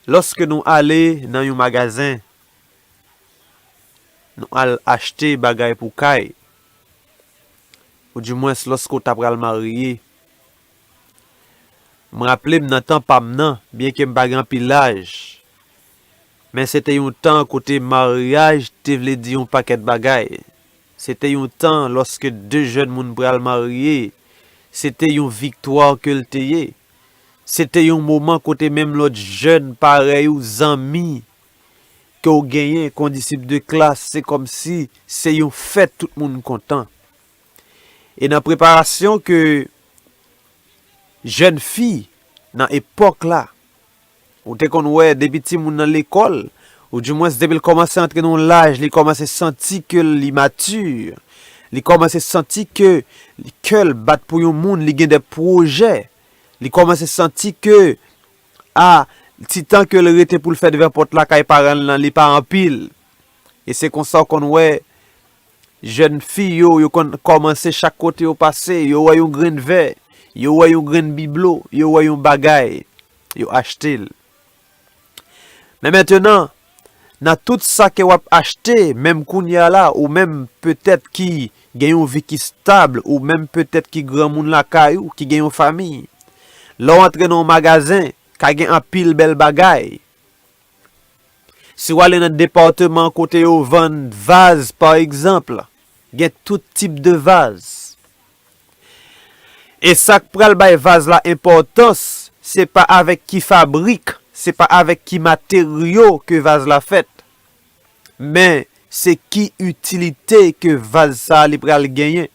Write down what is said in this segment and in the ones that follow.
Lòske nou ale nan yon magazen, nou al achte bagay pou kay, ou di mwens lòske ou ta pral marye, m raple m nan tan pa m nan, byenke m pa gen anpil laj, men se te yon tan kote maryaj te vle di yon pakèt bagay. Se te yon tan lòske de jèn moun pral marye, se te yon viktwa ke l te ye. Se te yon moman kote menm lòt jèn parèy ou, zanmi, ke w genyen, kondisip de klas, se kòmsi se yon fèt tout moun kontan. E nan preparasyon ke jèn fi nan epòk la, Ou te konn wè depi timoun nan lekòl, ou di mwens depi l kòmanse antre nan yon laj li kòmanse santi ke l imature, li kòmanse santi ke kè l bat pou yon moun, li gen de pwojè, li kòmanse santi ke a ti tan ke l rete pou l fè devan pòt lakay paran l lan li pa anpil. E se konsa ou konn wè Jèn fi yo, yo konn kòmanse chak kote yo pase, yo wè yon grenn vè, yo wè yon grenn biblo, yo wè yon bagay, yo achte l. Men mentenan, nan tout sa ke w ap achte, menm kounye a la, ou menm petèt ki gen yon vi ki stab, ou menm petèt ki granmoun lakay ou, ki gen yon famiy, lè w antre nan yon magazen, ka gen anpil bèl bagay, Si w ale nan depateman kote yo vann vaz pa egzanp, gen tout tip de vaz. E sa k pral bay vaz la enpòtans, se pa avèk ki fabrik, se pa avèk ki materyo ke vaz la fèt, men se ki itilite ke vaz sa li pral genyen.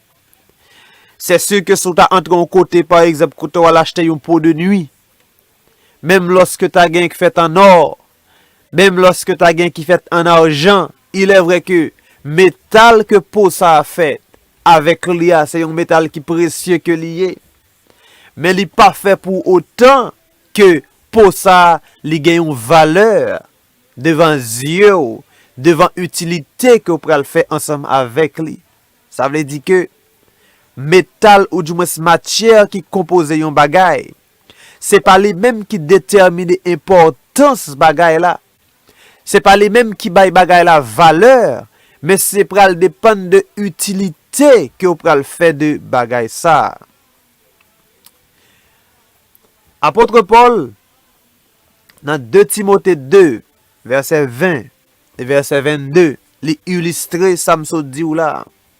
Sèsi ke si w ta antre yon kote pa egzanp kote w al achte yon po de nwi, Menm lòske ta gen k fèt annò, menm lòske ta gen ki fèt ann arjan, ilèvrè ke metal ke po sa a fèt avèk li a se yon metal ki presye ke li ye, men li pa fè pou otan ke po sa a li gen yon valè devan zye w, devan itilite ke w pral fè ansanm avèk li. Sa vle di ke metal oudimwens matyè ki konpoze yon bagay, Se pa li menm ki detèmine enpòtans bagay la. Se pa li menm ki bay bagay la valè, men se pral depann de itilite ke ou pral fè de bagay sa a. Apôtre Paul nan 2 Timothée 2 verset 20 et verset 22 li ilistre sa m sot di w la a.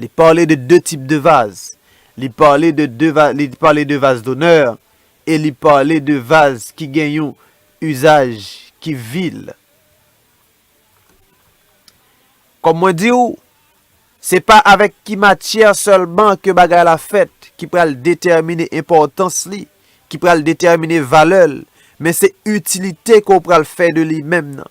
Li pale de 2 tip de vaz. Li pale de 2 vaz, li pale de vaz donè e li pale de vaz ki gen yon izaj ki vil. Kòm mwen di ou, se pa avèk ki matyè sèlman ke bagay la fèt ki pral detèmine enpòtans li, ki pral detèmine valè l, men se itilite ke ou pral fè de li menm nan.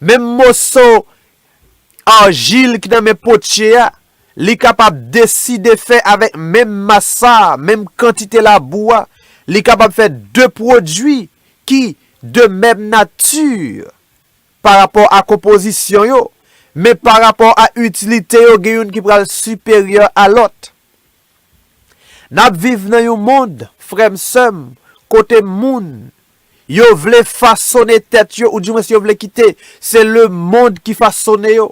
Menm moso argile ki nan men potye a, li kapab deside fè avèk menm mas sa, menm kantite labou a, li kapab fè 2 pwodui ki de menm nati pa rapò a konpozisyon yo, men pa rapò a itilite yo gen youn ki pral siperyè a lòt. Nap viv nan yon mond frèm sèm kote moun yo vle fasone tèt yo ou di mwens yo vle kite se le mond ki fasone yo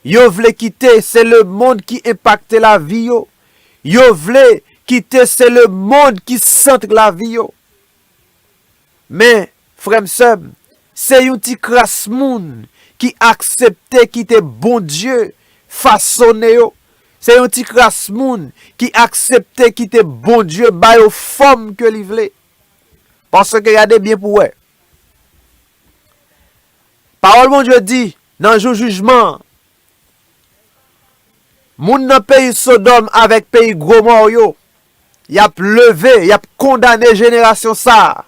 yo vle kite se le mond ki enpakte lavi yo yo vle kite se le mond ki centre lavi yo. Men, frè m, sè m, se yon ti kras moun ki aksepte kite Bondye fasone yo, se yon ti kras moun ki aksepte kite Bondye ba yo fòm ke li vle. Paske gade byen pou w wè, Pawòl Bondye di, nan jou jijman an, Moun nan peyi Sodòm avèk peyi Gomò yo, y ap leve, y ap kondane jenerasyon sa a.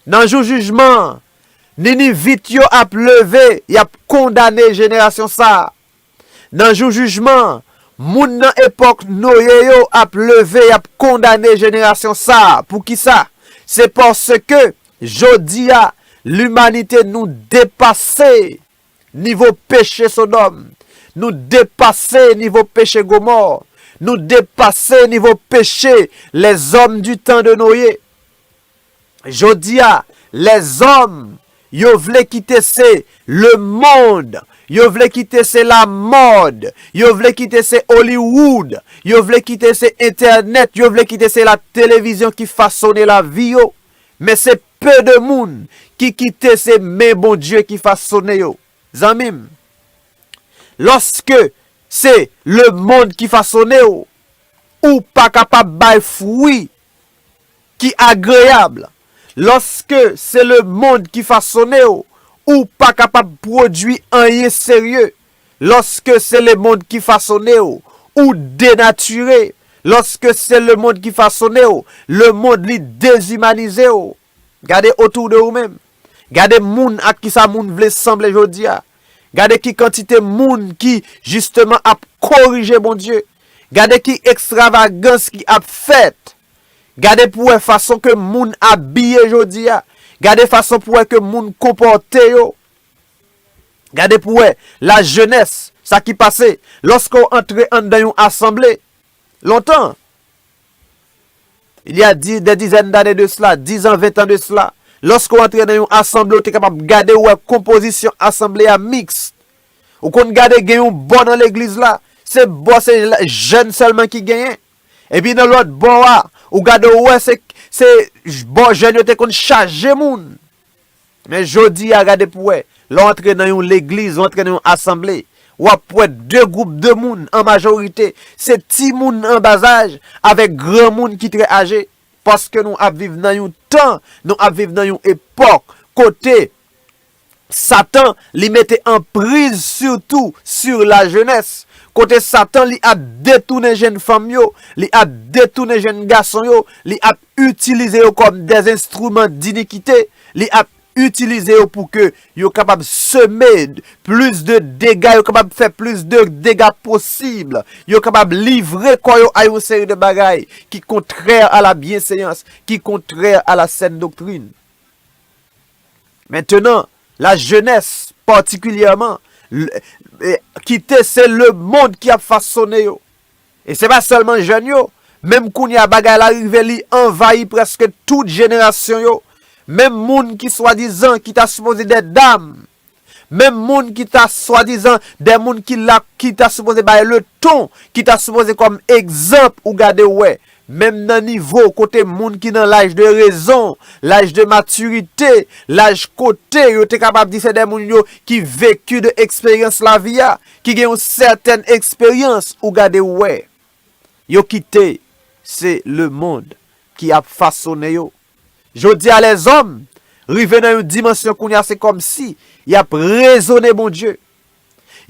Nan jou jijman an, Ninivit yo ap leve, y ap kondane jenerasyon sa a. Nan jou jijman an, moun nan epòk Noye yo ap leve, y ap kondane jenerasyon sa a. Poukisa? Se paske, jodi a, limanite nou depase. Nivo peche Sodòm. Nou depase nivo peche Gomò. Nou depase nivo peche lèzòm di tan de Noye. Jodi a, lèzòm, yo vle kite se lemond, yo vle kite se lamòd, yo vle kite se Hollywood, yo vle kite se entènèt, yo vle kite se la televizyon ki fasone lavi yo. Men se Peu de moun ki kite se men Bondye ki fasone yo zanmi m. Loske se le mond ki fasone w, ou pa kapab bay fwi ki agreyab. Loske se le mond ki fasone w, ou pa kapab pwodwi anyen serye. Lòske se lemond ki fasone w, ou denatire, lòske se lemond ki fasone w, lemond li dezimanize w. Gade otou de ou menm. Gade moun ak kisa moun vle sanble jodi a. Gade ki kantite moun ki jisteman ap korije Bondye. Gade ki ekstravagans ki ap fèt. Gade pou wè fason ke moun abiye jodi a. Gade fason pou wè ke moun konpòte yo. Gade pou wè lajenès sa ki pase lòske w antre anndan yon asanble. Lontan, il y a des dizaines d'années de cela, dizan, ventan de cela, lòske w antre nan yon asanble ou te kapab gade ou wè konpozisyon asanble a mixte. Ou konn gade gen yon bò nan legliz la, se bò se jèn sèlman ki genyen. Epi nan lòt bò a, ou gade ou wè se bò jèn yo te konn chaje moun. Men jodi a gade pou wè, lè w antre nan yon legliz, ou antre nan yon asanble, w ap wè de gwoup de moun, an majorite, se timoun an bazaj avèk granmoun ki trè aje. Paske nou ap viv nan yon tan, nou ap viv nan yon epòk kote satan li mete anpriz sitou sur la jenès. Kote satan li ap detounen jenn fanm yo, li ap detounen jenn gason yo, li ap itilize yo kòm des instruments d'iniquite, li ap itilize yo pou ke yo kapab seme plis de dega, yo kapab fè plis de dega posib, yo kapab livre kò yo a yon seri de bagay ki kontrè a la byenseyans, ki kontrè a la sèn doktrin. Mentenan, la jenès, patikilyèman, kite se le mond ki ap fasone yo. E se pa sèlman jèn yo, menm kounye a bagay la rive li anvayi prèske tout jenerasyon yo, menm moun ki swadizan ki ta sipoze dè dam, menm moun ki ta swadizan dè moun ki la ki ta sipoze bay leton, ki ta sipoze kòm egzanp ou gade ou wè, Menm nan nivo kote moun ki nan laj de rezon, laj de matirite, laj kote yo te kapab di se de moun yo ki vecu de eksperyans lavi a, ki gen yon sètèn eksperyans, ou gade ou wè. Yo kite se lemond ki ap fasonnen yo. Jodi a lèzòm rive nan yon dimansyon kounye a se kòmsi y ap rezone Bondye.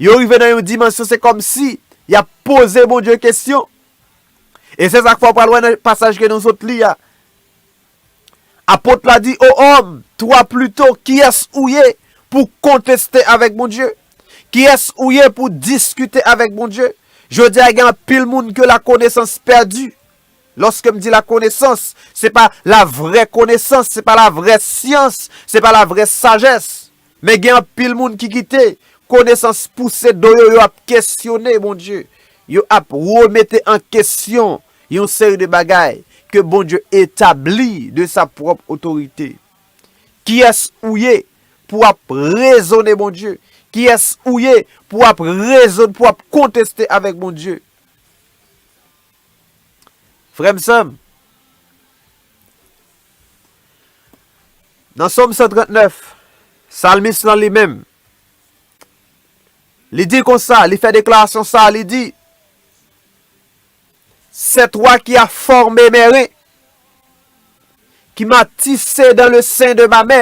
Yo rive nan yon dimansyon se kòm si y ap poze Bondye kesyon. E se sa k fè w pral wè nan pasaj ke nou sot li a, apot la di, O òm, twa plito, kiyès ou ye pou konteste avèk Bondye? Kiyès ou ye pou diskite avèk Bondye? Jodi a gen anpil moun ke lakonesans pèdi. Lòske m di lakonesans, se pa lavrè konesans, se pa lavrè syans, se pa lavrè sajès. Men gen anpil moun ki kite konesans pouse do yo, yo ap kesyone Bondye, yo ap remete an kesyon yon seri de bagay ke Bondye etabli de sa pwòp otorite. Kiyès ou ye pou ap rezone Bondye? Kiyès ou ye pou ap rezone, pou ap konteste avèk Bondye? Frè m, sè m, nan Sòm 139, salmis lan li menm, li di konsa, li fè deklarasyon sa a, li di, Sè twa ki a fòme mè ren, ki m'a tise dan le sen de ma mè.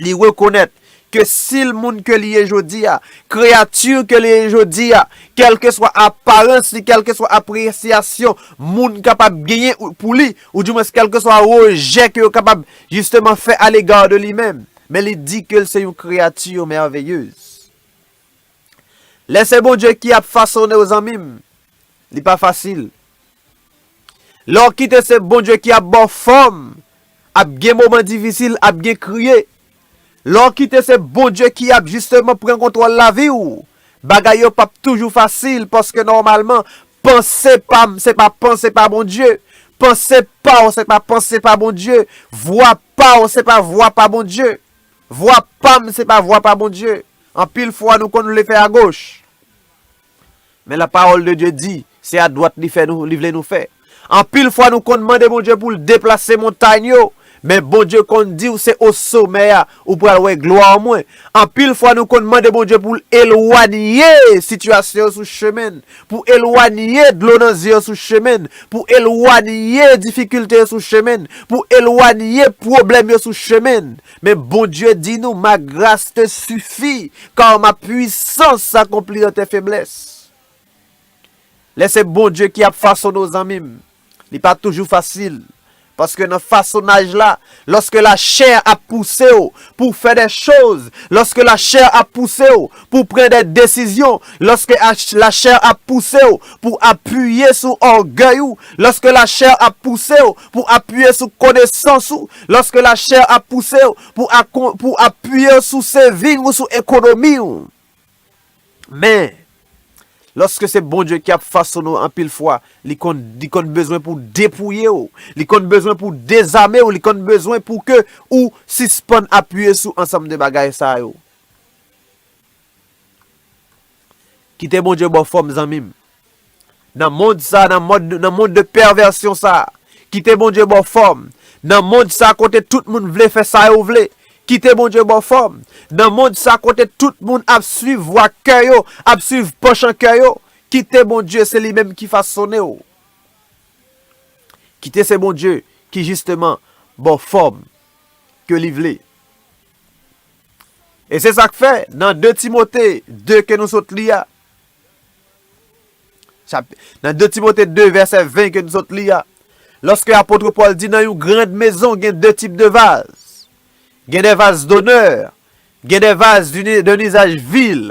Li rekonèt ke si l moun ke li ye jodi a, kreyati ke li ye jodi a, kèlkeswa aparans li, kèlkeswa apresyasyon moun kapab genyen pou li, ou di mwens kèlkeswa rejè ke yo kapab jisteman fè alega de li menm, men li di ke l se yon kreyati mèveyez. Lè se Bondye ki ap fasone w zanmim li pa fasil. Lè w kite se Bondye ki ap baw fòm ap gen moman difisil ap gen kriye. Lè w kite se Bondye ki ap jisteman pran kontwòl lavi w bagay yo pap toujou fasil paske nòmalman panse pam se pa panse pa Bondye, panse paw se pa panse pa Bondye, vwa paw se pa vwa pa Bondye. Vwa pam se pa vwa pa Bondye. Anpil fwa nou konn vle fè a goch. Men la pawòl de Dye di, se a dwat li fè nou, li vle nou fè. Anpil fwa nou konn mande Bondye poul deplase montagn yo, men Bondye konn diw se o somè a ou pral wè glwa mwen. Anpil fwa nou konn mande Bondye poul elwanye sitiyasyon yo sou chemenn, pou elwanye dlo nan zye yo sou chemenn, pou elwanye difikilte yo sou chemenn, pou elwanye pwoblèm yo sou chemenn. Men Bondye di nou, Ma gras te sifi, kar ma pwisans akonpli an te feblès. Lè se Bondye ki ap fasonnen w zanmi m, li pa toujou fasil. Paske nan fasonaj la, lòske lachè a ap pouse w pou w fè de choz, lòske lachè a ap pouse w pou w pran de desizyon, lòske lachè a ap pouse w pou w apiye sou ògèy ou, lòske lachè a ap pouse w pou apiye sou konesans ou, lòske lachè ap pouse w pou apiye w sou seving ou, sou ekonomi w. Men, lòske se Bondye ki ap fasonnen w anpil fwa, li konn bezwen pou depouye w, li konn bezwen pou dezame w, li konn bezwen pou ke ou sispann apiye sou ansanm de bagay sa yo. Kite Bondye baw fòm zanmim. Nan mond sa, nan mond de pèvèsyon sa. Kite Bondye baw fòm. Nan mond sa kote tout moun vle fè sa yo vle. Kite Bondye baw fòm. Nan mond sa kote tout moun ap swiv vwa kè yo, ap swiv panchan kè yo. Kite Bondye se li menm ki fasonew. Kite se Bondye ki jisteman baw fòm ke li vle. E se sa k fè, nan 2 Timote 2 ke nou sot li a, nan 2 Timote 2 vèsè 20 ke nou sot li a, lòske apotre Pòl di nan yon grand mezon gen 2 tip de vaz, gen de vaz donè, gen de vaz d'un izaj vil,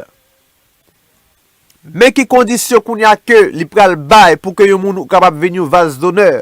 men ki kondisyon kounye a ke li pral bay pou ke yon moun kapab vin yon vaz donè.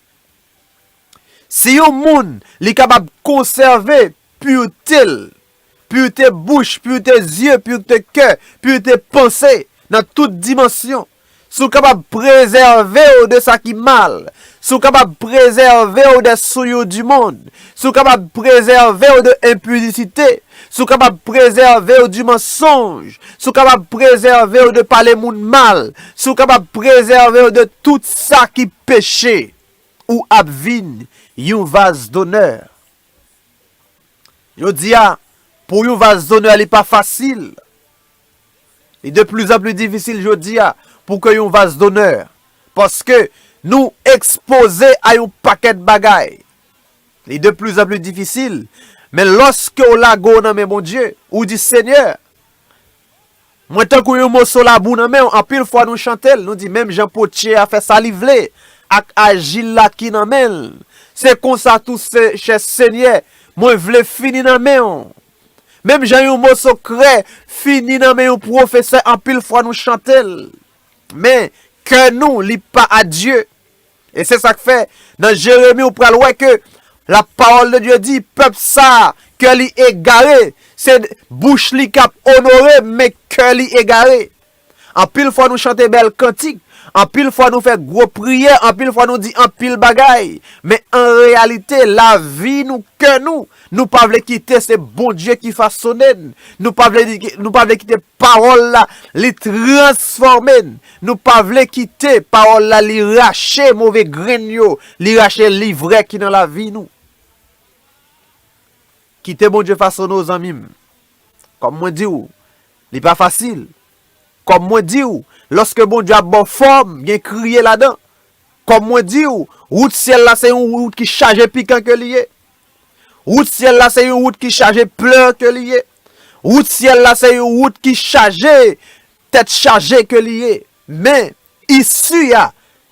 Si yon moun li kapab konsève purete l, purete bouch, purete zye, purete kè, purete panse nan tout dimansyon, si w kapab prezève w de sa ki mal, si w kapab prezève w de souillure du monde, Si w kapab prezève w de enpidisite, si w kapab prezève w di mansonj, si w kapab prezève w de pale moun mal, si w kapab prezève w de tout sa ki peche, ou ap vin yon vaz donè. Jodi a, pou yon vaz donè li pa fasil. Li de pli zan pli difisil jodi a pou ke yon vaz donè. Paske nou ekspoze a yon pakèt bagay. Li de pli zan pli difisil, men lòske w lage w nan men Bondye, ou di, Senyè, mwen tankou yon moso labou nan men w, anpil fwa nou chante l, nou di, menm jan potye a fè sa li vle ak ajil la ki nan men l, se konsa tou, chè Senyè, mwen vle fini nan men w, menm jan yon moso krè fini nan men yon pwofesè, anpil fwa nou chante l, men kè nou li pa a Dye. E se sak fè nan Jeremi ou pral wè ke la parole de Dieu dit pèp sa kè li egare se bouch li kap onore men kè li egare. Anpil fwa nou chante bèl kantik, anpil fwa nou fè gwo priyè, anpil fwa nou di anpil bagay men an reyalite la vi nou kè nou nou pa vle kite se Bondye ki fasonne nou pa vle kite Pawòl la, li transfòme n. Nou pa vle kite Pawòl la li rache move grenn yo, li rache livrè ki nan lavi nou. Kite Bondye fasone w zanmi m. Kòm mwen di w, li pa fasil. Kòm mwen di w, lòske Bondye ap ba w fòm, gen kriye ladan. Kòm mwen di w, wout syèl la se yon wout ki chaje pikan ke li ye. Wout syèl la se yon wout ki chaje plè ke li ye. Wout syèl la se yon wout ki chaje tèt chaje ke li ye. Men, isi a,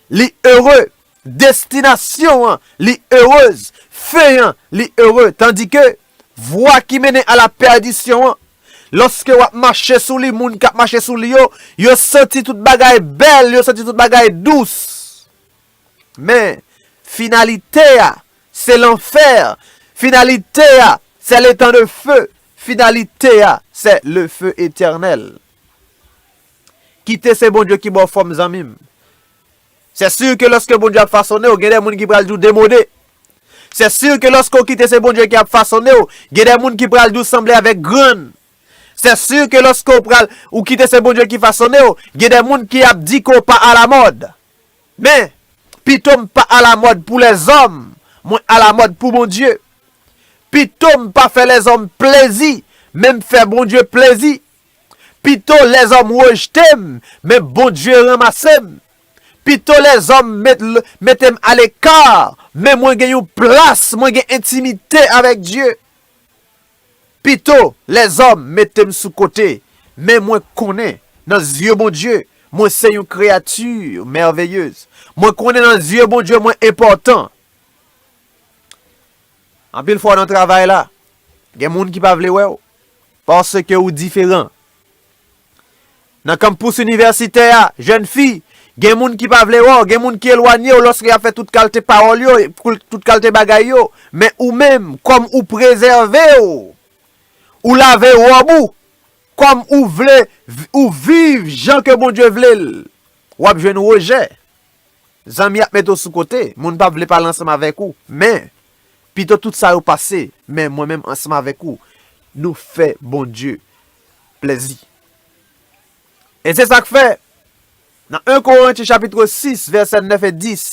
li ere. Destinasyon an, li erez. Fen an, li ere. Tandike, vwa ki mennen a la pèdisyon an, lòske w ap mache sou li, moun k ap mache sou li yo, yo santi tout bagay bèl, yo santi tout bagay dous. Men, finalite a, se lanfè, finalite a, se letan de fe, finalite a, se le fe etènèl. Kite se Bondye ki ba w fòm zanmi m. Se si ke lòske Bondye ap fasone w, gen de moun ki pral di w demode. Se si ke lòske w kite se Bondye ki ap fasone w, gen de moun ki pral di w sanble avèk grann. Se si ke lòske w pral, ou kite se Bondye ki fasone w, gen de moun ki ap di ke w pa alamòd. Men, pito m pa alamòd pou lèzòm, mwen alamòd pou Bondye. Pito m pa fè lèzòm plezi, men m fè Bondye plezi. Pito lèzòm rejte m, men Bondye ranmase m. Pito lèzòm mete m aleka, men mwen gen yon plas, mwen gen entimite avèk Dye. Pito lèzòm mete m sou kote, men mwen konnen nan zye Bondye mwen se yon kreyati mèveyez. Mwen konnen nan zye Bondye mwen enpòtan. Anpil fwa nan travay la, gen moun ki pa vle wè w paske ou diferan. Nan kanmpous inivèsitè a, jèn fi, gen moun ki pa vle wè w, gen moun ki elwanye w lòske y ap fè tout kalte pawòl yo, tout kalte bagay yo. Men ou menm, kòm ou prezève w, ou lave wòb ou, kòm ou vle, ou viv jan ke Bondye vle l, w ap jwenn rejè. Zanmi ap mete w sou kote, moun pa vle pale ansanm avèk ou. Men, pito tout sa yo pase, men mwen menm ansanm avèk ou, nou fè Bondye plèzi. E se sa k fè, nan 1 Korentyen chapitro 6, vèsè 9 e 10,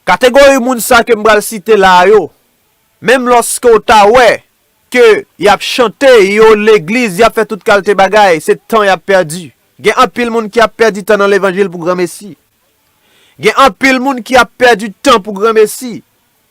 kategori moun sa ke m pral site la yo, menm lòske w ta wè ke y ap chante, yo legliz, y ap fè tout kalte bagay, se tan y ap pèdi. Gen anpil moun ki ap pèdi tan nan levanjil pou granmesi. Gen anpil moun ki ap pèdi tan pou granmesi.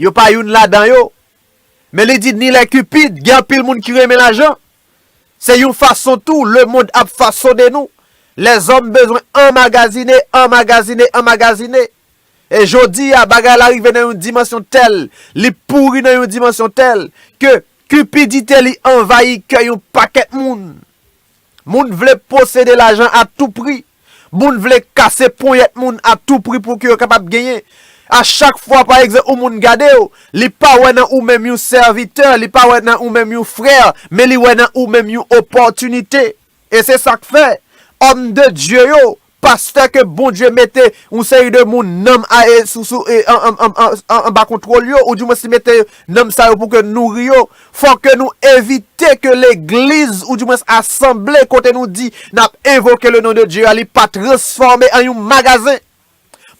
Yo pa youn ladan yo. Men li di ni lè Cupid gen anpil moun ki renmen lajan. Se yon fason tou lemond ap fasone nou. Lèzòm bezwen anmagazine, anmagazine, anmagazine. E jodi a bagay la rive nan yon dimansyon tèl, li pouri nan yon dimansyon tèl, ke cupidite li anvayi kè yon pakèt moun. Moun vle posede lajan a tou pri. Moun vle kase ponyèt moun a tou pri pou ke yo kapab genyen. A chak fwa pa egzanp yon moun gade w, li pa wè nan ou menm yon sèvitè, li pa wè nan ou menm yon frè, men li wè nan ou menm yon opòtinite. E se sa k fè, òm de Dye yo, pastè ke Bondye mete yon seri de moun nanm a e sou sou e anba kontwòl yo, ou di mwens li mete nanm sa yo pou ke nouri yo, Fò ke nou evite ke legliz ou di mwens asanble kote nou di n ap envoke le non de Dye a li pa transfòme an yon magazen.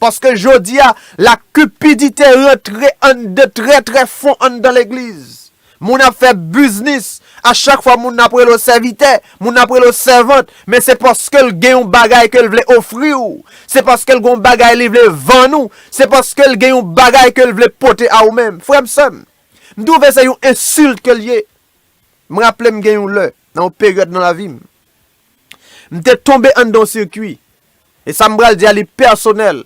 Paske jodi a, la cupidite rantre anndan trè trè fon anndan legliz. Moun ap fè biznis, a chak fwa moun ap rele w sèvitè, moun ap rele w sèvant, men se paske l gen yon bagay ke l vle ofri w, se paske l gen yon bagay li vle vann ou, se paske l gen yon bagay ke l vle pote a ou menm. Frè m, sè m, M twouve se yon ensilt ke l ye. M raple m gen yon lè, nan yon peryòd nan lavi m, m te tonbe anndan yon sikwi. E sa m pral di a li pèsonèl.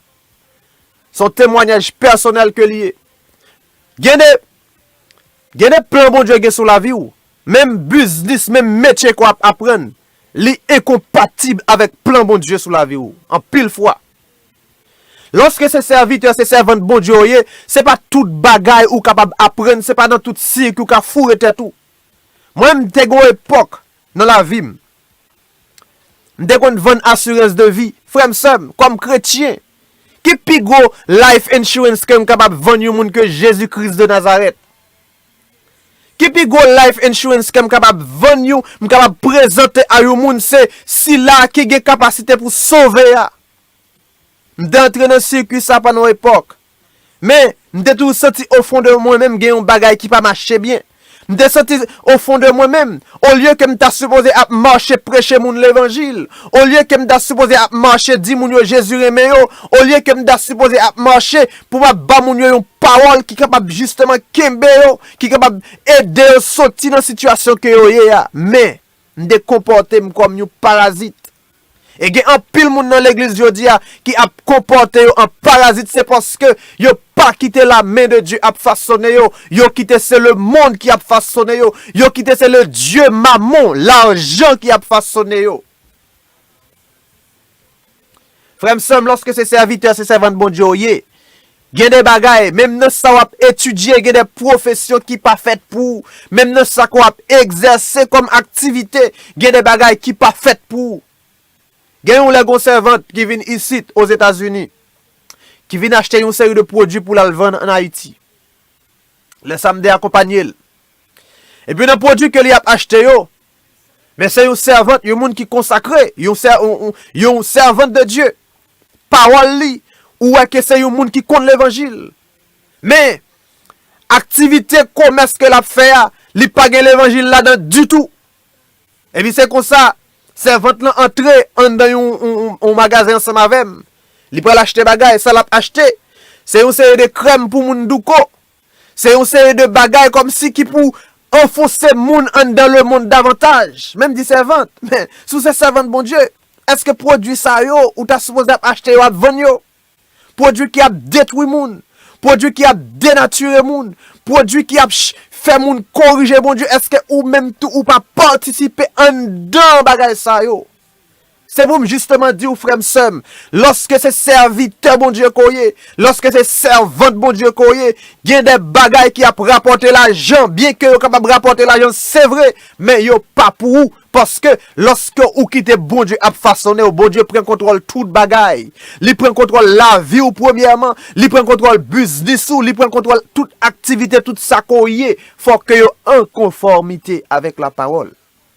Se yon temwanyaj pèsonèl ke li ye. Gen de, gen de plan Bondye gen sou lavi w, menm biznis, menm metye ke w ap aprann, li enkonpatib avèk plan Bondye sou lavi w, anpil fwa. Lòske se sèvitè, se sèvant Bondye yo ye, se pa tout bagay ou kapab aprann, se pa nan tout sirk ou ka foure tèt ou. Mwen m te gon epòk nan lavi m, m te konn vann asirans de vi. Frè m, sè m, kòm kretyen, ki pi gwo life insurance ke m kapab vann yon moun ke Jezi Kris de Nazarèt? Ki pi gwo life insurance kem kapab vann you m kapab prezante a you moun se sila a ki gen kapasite pou sove a. M te antre nan sikwi sa pandan yon epòk. Men, m te toujou santi o fon de mwen menm gen yon bagay ki pa mache byen. M te santi o fon de mwen menm, olye ke m ta sipoze ap mache preche moun levanjil, olye ke m ta sipoze ap mache di moun yo Jezi renmen yo, olye ke m ta sipoze ap mache Pou w ap ba moun yo yon pawòl ki kapab jisteman kenbe yo, ki kapab ede yo soti nan sitiyasyon ke yo ye a. Men, m te konpòte m kòm yon parazit. E gen anpil moun nan legliz jodi a ki ap konpòte yo an parazit se paske yo pa kite la men de Dye ap fasone yo, yo kite se lemonn ki ap fasone yo, yo kite se le dye Mammon, lajan ki ap fasone yo. Frè m sè m lòske se sèvitè se sèvant Bondye w ye gen de bagay menm nan sa w ap etidye gen de pwofesyon ki pa fèt pou ou menm nan sa ke w ap egzèse kòm aktivite gen de bagay ki pa fèt pou ou gen yon lè gon sèvant ki vin isit ozetazini ki vin achte yon seri de pwodwi pou l al vann an ayiti lè sa m de akonpanye l epi nan pwodwi ke li ap achte yo Men se yon sèvant, yon moun ki konsakre, yon sèvant de Dye. Pawòl li, ou wè ke se yon moun ki konn levanjil. Men, aktivite komès ke l ap fè a, li pa gen levanjil ladan ditou. Epi se konsa, sèvant lan antre anndan yon magazen ansanm avè m. Li pral achte bagay, sa l ap achte, se yon seri de krèm pou moun douko, Se yon seri de bagay kòmsi ki pou anfonse moun anndan lemonn davantaj. Menm di sèvant, men, si w se sèvant Bondye, èske pwodui sa yo ou ta sipoze ap achte yo ap vann yo? Pwodui ki ap detwi moun, pwodui ki ap denatire moun, pwodui ki ap fè moun korije Bondye, èske ou menm tou ou pa patisipe anndan bagay sa yo? Se pou m jisteman di w, frè m, sè m, lòske se sèvitè Bondye ke w ye, lòske se sèvant Bondye ke w ye, gen de bagay ki ap rapòte lajan, byenke yo kapab rapòte lajan, se vre, men yo pa pou ou, paske, lòske ou kite Bondye ap fasone w, Bondye pran kontwòl tout bagay. Li pran kontwòl lavi w premyèman, li pran kontwòl biznis ou, li pran kontwòl tout aktivite, tout sa ke w ye, fò ke yo an konfòmite avèk lapawòl.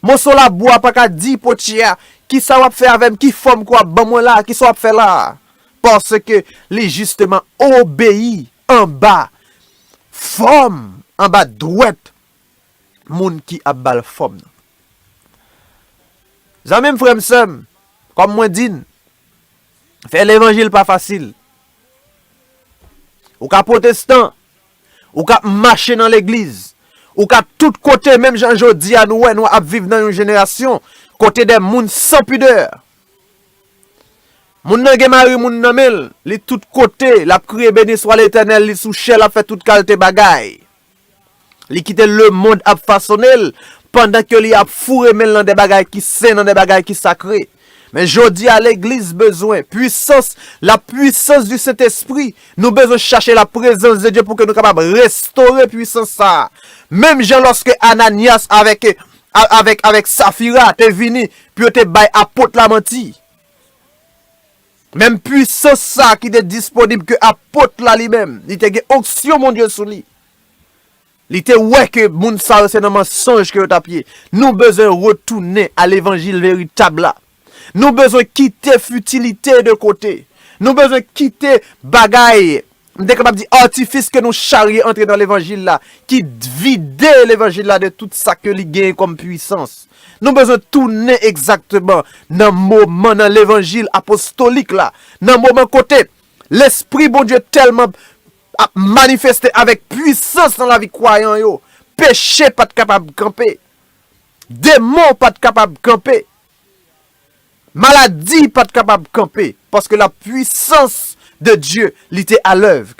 Moso labou a pa ka di potye a, Kisa w ap fè avè m? Ki fòm ke w ap ban mwen la a? Kisa w ap fè la a? Paske li jisteman obeyi anba fòm, anba dwèt moun ki ap ba l fòm nan. Zanmi m, frè m, sè m, kòm mwen di n, fè levanjil pa fasil. Ou ka pwotestan, Ou ka mache nan legliz, ou ka tout kote menm jan jodi a nou wè nou ap viv nan yon jenerasyon kote de moun san pidè. Moun nan gen mari moun nan men l, li tout kote, l ap kriye beni swa Letènèl, li sou chè, l ap fè tout kalte bagay. Li kite lemonn ap fasone l pandan ke li ap foure men l nan de bagay ki sen, nan de bagay ki sakre. Men jodi a legliz bezwen pwisans, la puissance du Saint Esprit, nou bezwen chache la prezans de Dye pou ke nou kapab restore pwisans sa a. Menm jan lòske Ananias avèk avèk avèk Safira te vini pou yo te bay apot la manti. Menm pwisans sa a ki te disponib ke apot la li menm, li te gen onksyon Bondye sou li. Li te wè ke moun sa yo se nan mansonj ke yo tap ye. Nou bezwen retounen a levanjil veritab la. Nou bezwen kite futilite de kote. Nou bezwen kite bagay, m te kapab di artifis ke nou charye antre nan levanjil la, ki vide levanjil la de tout sa ke li genyen kom pwisans. Nou bezwen tounen egzakteman nan moman, nan levanjil apostolik la, nan moman kote Lespri Bondye telman ap manifeste avèk pwisans nan lavi kwayan yo, peche pa t kapab kanpe, demon pa t kapab kanpe, maladi pa t kapab kanpe, paske la pwisans de Dye li te alèv.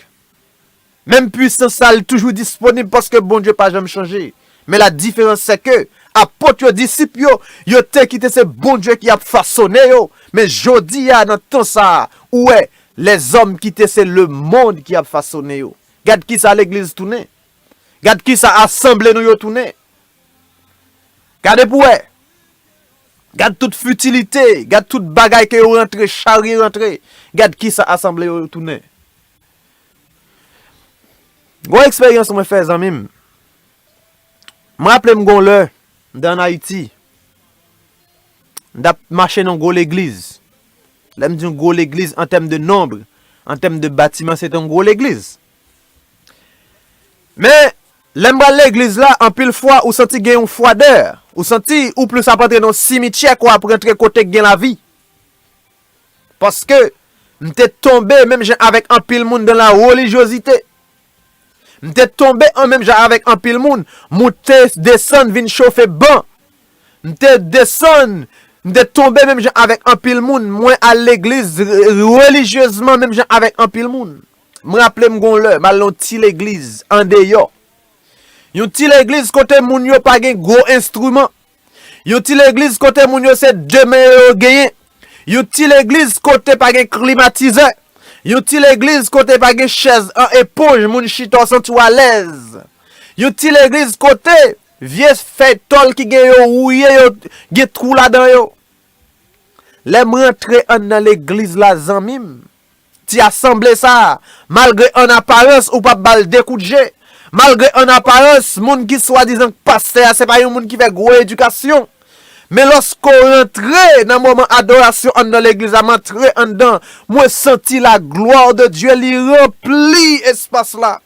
Menm pwisans sa a li toujou disponib paske Bondye pa janm chanje. Men la diferans se ke Apot yo, disip yo, yo te kite se Bondye ki ap fasone yo, men jodi a nan tan sa a, ou wè, Lèzòm kite se lemonn ki ap fasone yo. Gad kisa legliz tounen. Gad kisa asanble nou yo tounen. Gade pou wè. Gad tout fitilite. Gad tout bagay ke yo rantre, charye rantre. Gad kisa asanble yo tounen. Gon eksperyans mwen fè zanmi m. M raple m gon lè m te an Ayiti. M tap mache nan gwo legliz. Lè m di yon gwo legliz an tèm de nonb, an tèm de batiman se te yon gwo legliz. Men, lè m pral legliz la, anpil fwa ou santi gen yon fwadè. Ou santi ou plis ap antre nan yon simityè ke w ap rantre kote k gen lavi. Paske, m te tonbe menm jan avèk anpil moun dan la relijyozite. M te tonbe an menm jan avèk anpil moun, moute, desann, vin chofe ban. M te desann, m te tonbe menm jan avèk anpil moun, mwen al legliz relijyezman menm jan avèk anpil moun. M raple m gon lè, m al nan yon ti legliz, andeyò. Yon ti legliz kote moun yo pa gen gwo enstriman. Yon ti legliz kote moun yo se de men yo yo genyen. Yon ti legliz kote pa gen klimatizè. Yon ti legliz kote pa gen chèz an eponj moun chita w santi w alèz. Yon ti legliz kote vye fèy tòl ki gen yo wouye yo gen twou ladan yo. Lè m rantre anndan legliz la zanmi m, Ti asanble sa a, malgre an aparans ou pa bal 2 kout je, malgre an aparans moun ki swadizan k pastè a se pa yon moun ki fè gwo edikasyon, men lòske w rantre nan moman adorasyon anndan legliz la m antre anndan mwen santi la gloire de Dieu li ranpli espas la.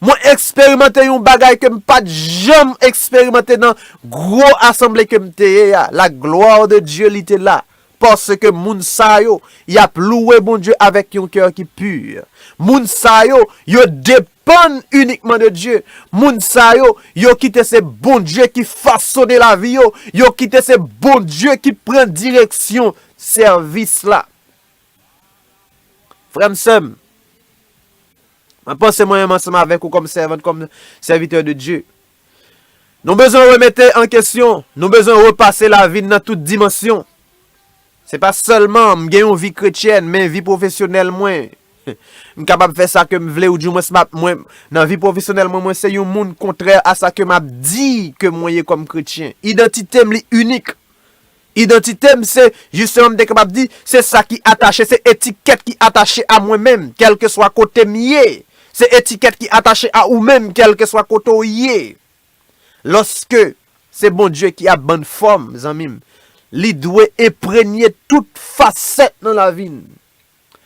Mwen eksperimante yon bagay ke m pa t janm eksperimante nan gwo asanble ke m te ye a, la gloire de Dieu li te la, paske moun sa yo, y ap louwe Bondye avèk yon kè ki pur. Moun sa yo, yo depann inikman de Dieu. Moun sa yo, yo kite se Bondye ki fasone lavi yo, yo kite se Bondye ki pran direksyon sèvis la. Frè m, sè m, Mwen panse mwen menm ansanm avèk ou kòm sèvant, kòm sèvitè de Dye. Nou bezwen remete an kesyon, nou bezwen repase lavi n nan tout dimansyon. Se pa sèlman m gen yon vi kretyèn, men vi pwofesyonèl mwen. M kapab fè sa ke m vle ou dimwens m ap mwen nan vi pwofesyonèl mwen, mwen se yon moun kontrè a sa ke m ap di ke mwen ye kòm kretyen. Idantite m li inik. Idantite m se, jisteman m te kapab di, se sa ki atache, se etikèt ki atache a mwen menm, kèlkeswa kote m ye. Se etikèt ki atache a ou menm, kèlkeswa kote w ye. Lòske se Bondye ki ap ban n fòm, zanmi m, li dwe enpremye tout fasèt nan lavi n.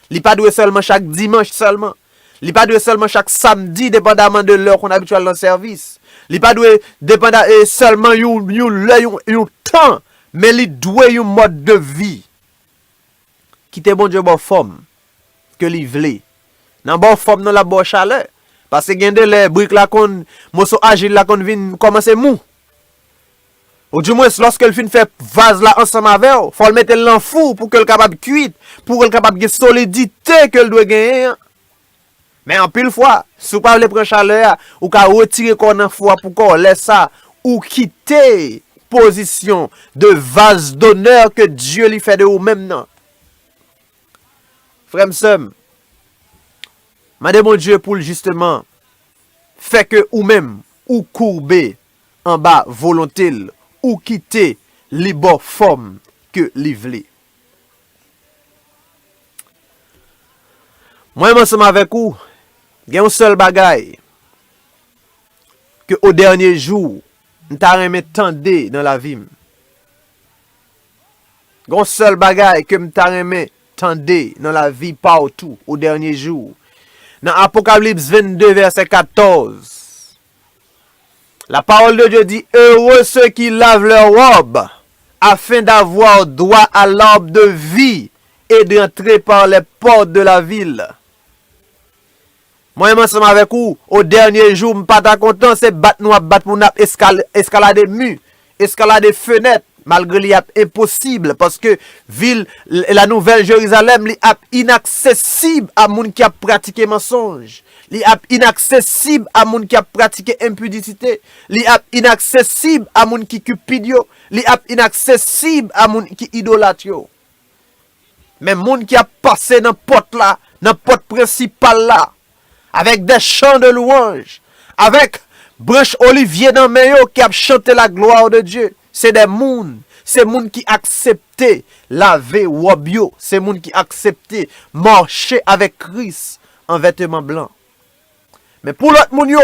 Li pa dwe sèlman chak dimanch sèlman. Li pa dwe sèlman chak samdi depandaman de lè ou konn abitye al nan sèvis. Li pa dwe depanda e sèlman yon yon lè yon yon tan men li dwe yon mòd de vi. Kite Bondye ba w fòm ke li vle. Nan ba w fòm nan lap ba w chalè. Pase gen de lè brik la konn moso ajil la konn vin kòmanse mou. Ou di mwens lòske l fin fè vaz la ansanm avè w, fò l mete l nan fou pou ke l kapab kuit, pou ke l kapab gen solidite ke l dwe genyen an. Men anpil fwa, si w pa vle pran chalè a, ou ka retire kò w nan fou a pou kò w, lè sa, ou kite pozisyon de vaz donè ke Dye li fè de ou menm nan. Frè m, sè m, mande Bondye pou l jisteman fè ke ou menm, ou koube. anba volonte l ou kite li ba w fòm ke li vle. Mwen ansanm avèk ou gen yon sèl bagay ke o dènye jou m ta renmen tande nan lavi m. Gen yon sèl bagay ke m ta renmen tande nan lavi pa w tou o dènye jou. Nan Apokalyps 22 vèsè 14, La parole de Dieu dit, Heureux ceux qui lavent leurs robes, afin d'avoir droit à l'arbre de vie et d'entrer par les portes de la ville. Mwen menm ansanm avèk ou, o dènye jou, m pa ta kontan se bat nou ap bat pou n ap eskalade mi Eskalade fenèt, malgre li ap enposib, paske vil La Nouvèl Jerizalèm li ap inaksesib a moun ki ap pratike mansonj, li ap inaksesib a moun ki ap pratike enpidisite, li ap inaksesib a moun ki cupid yo, li ap inaksesib a moun ki idolat yo. Men moun ki ap pase nan pòt la, nan pòt prensipal la, avèk dè chan de lwanj, avèk branch olivye nan men yo, ki ap chante laglwa de Dye. Se dè moun, se moun ki aksepte lave wòb yo, se moun ki aksepte mache avèk Kris an vèteman blan. Men pou lòt moun yo,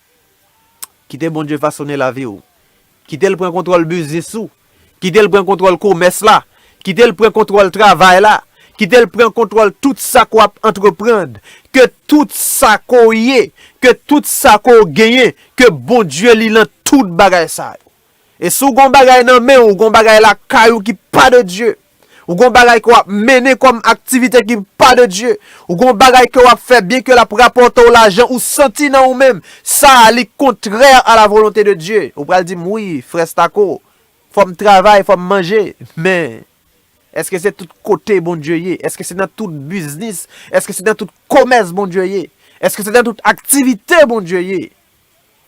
Kite Bondye fasone lavi w. Kite l pran kontwòl biznis ou. Kite l pran kontwòl komès la. Kite l pran kontwòl travay la. Kite l pran kontwòl tout sa ke w ap antreprand. Ke tout sa ke w ye. Ke tout sa ke w genyen. Ke Bondye li lan tout bagay sa yo. E si w gen yon bagay nan men w, ou gen yon bagay lakay ou ki pa de Dye, ou gen yon bagay ke w ap mennen kòm aktivite ki pa de Dye, ou gen yon bagay ke w ap fè byenke l ap rapòte w lajan, ou santi nan ou menm, sa a li kontrè a la volonte de Dye. Ou pral di m, wi, frè Stako, fò m travay, fò m manje. Men, èske se tout kote Bondye ye? Èske se nan tout biznis? Èske se nan tout komès Bondye ye? Èske se nan tout aktivite Bondye ye?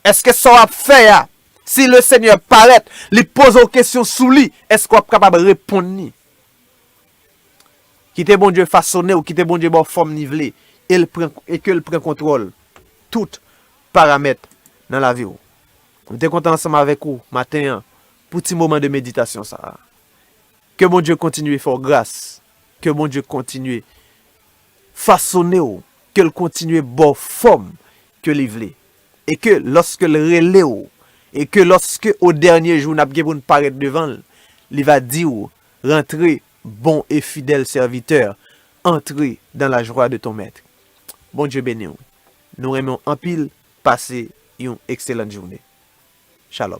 Eske sa w ap fè a, si Lesenyè parèt, li poze w kesyon sou li, eske w ap kapab reponn li? Kite Bondye fasone w, kite Bondye ba w fòm li vle, e ke l pran kontwòl tout paramèt nan lavi w. M te kontan ansanm avèk ou maten an pou ti moman de meditasyon sa a. Ke Bondye kontinye fè w gras, ke Bondye kontinye Fasone w ke l kontinye ba w fòm ke li vle. E ke lòske l rele w, e ke lòske o dènye jou n ap gen pou n parèt devan l, li va di w, Rantre, bon e fidèl sèvitè, antre dan la jwa de ton mèt. Bondye beni w. Nou renmen w anpil. Pase yon ekselant joune. Shalom.